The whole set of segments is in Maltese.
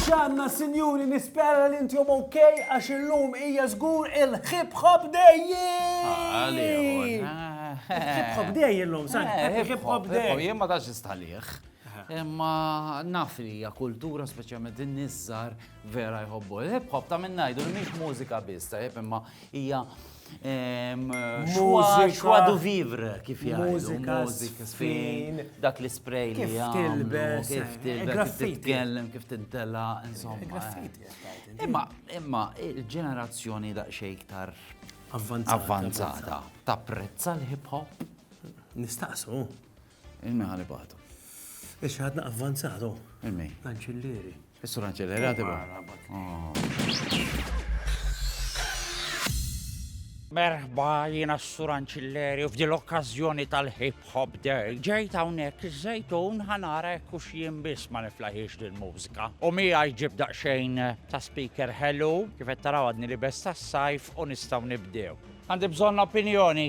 Xanna, sinjuri, nispera li intjom ok, għax il-lum ija zgur il-hip hop dejji! Hip hop dejji l-lum, sa' hip hop dejji! Jien ma tax istħalih. Imma naf li hija kultura speċjalment in-niżżar Vera jħobbu. Hip hop ta' minn ngħidu li mhix mużika biss, ta' hip imma hija ehm, mużika du vivre kif jgħidu. Mużika, fin, dak li spray li kif tilbes, kif tilbes, kif titkellem, kif tintella, insomma. Eh. Imma imma il-ġenerazzjoni daqsxejn iktar avvanzata tapprezza l-hip hop. Nistaqsu. Il-meħali batu. Ix ħadna avvanzatu. Il-mi. Anċillieri. Is-sur Anċellera tibgħu. Merħba jiena s-sur Anċilleri u f'dil okkażjoni tal-Hip Hop Day. Ġejt hawnhekk iż-żejtun ħanara hekk hux jien biss ma niflaħiex din mużika. U miegħi ġib daqsxejn ta' speaker ħelu kif qed taraw għadni li besta s-sajf u nistgħu nibdew. Għandi bżonn opinjoni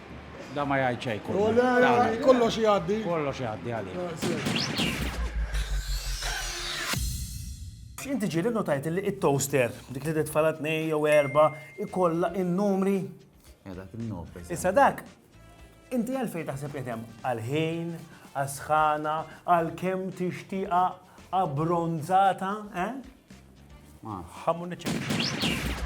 Da ma jgħid xejn kull. Oh, le, le, kollox jgħaddi. Kollox jgħaddi għalik. Ah, se. Inti ġiri notajt li it-toaster, dik li tfala tnej jew erba, ikolla in-numri. Issa dak, inti għalfej taħseb li hemm għal-ħin, għal-sħana, għal-kem tixtiqa Abbronzata, eh? Ma. Ħamu niċċekja.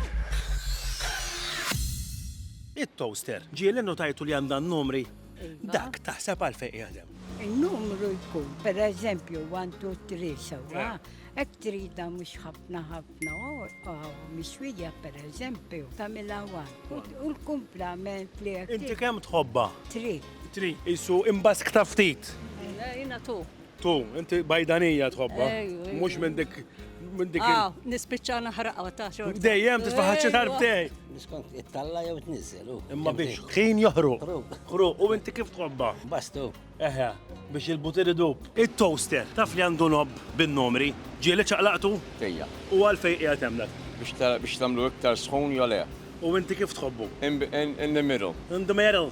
It-toaster, ġieli notajtu li għandha numri. Dak taħseb għalfejn jaħdem. Il-numru jkun, per eżempju, 1, 2, 3, sewa, ek trida mux ħafna ħafna, u miswija per eżempju, tamila għan. U l-kumplament li għek. Inti kem tħobba? Tri. Tri, jisu imbask taftit. Jina tu. Tu, inti bajdanija tħobba. Mux minn dik. Minn dik. Ah, nispicċa naħraqa ta' xorta. Dejjem tisfaħħaċi tarbtej. Miskont, it-talla jew t-nizzel. Imma biex ħin joħru. Ħru, u inti kif tħobba? Bastu. Eħe, biex il-butir idub. Il-toaster, taf li għandu nob bin-numri, ġieli ċaqlaqtu? Ejja. U għalfej qiegħed hemm dak? Biex tagħmlu iktar sħun jole. U inti kif tħobbu? In the middle. In the middle.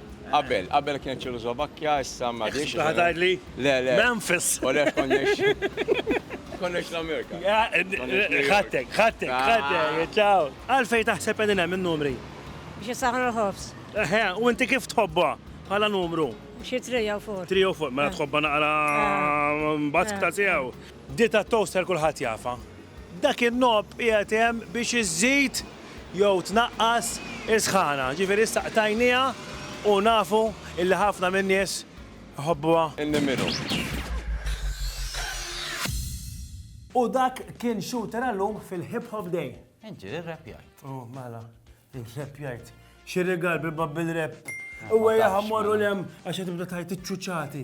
Qabel, qabel kienet Ċekożlovakkja, issa m'għadhiex. Xi ħadd għidli? Le, le. Memphis! U le konniex. Konniex l-Amerika. Ħadtek, ħadtek, ħadtek, ċaw! Għalfejn taħseb qegħdin hemm in-numri? Biex isaħħnu l-ħobż. Eħe, u inti kif tħobbha bħala numru? Xi three jew four. Three jew four, mela tħobbha naqra bask ta' tiegħu. Dieta toaster kulħadd jafha. Dak in-knob qiegħed hemm biex iżżid jew tnaqqas is-sħana. Ġifieri issa qtajnieha u nafu illi ħafna min-nies iħobbuha. In-nimiru. U dak kien Shooter għal-lum fil-Hip Hop Day. Inti irrepjajt. U mela, irrepjajt. Xi rigal bi Babbil Rap. Ewwejjaħ immorru 'l hemm għax qed tibda tgħid iċ-ċuċati.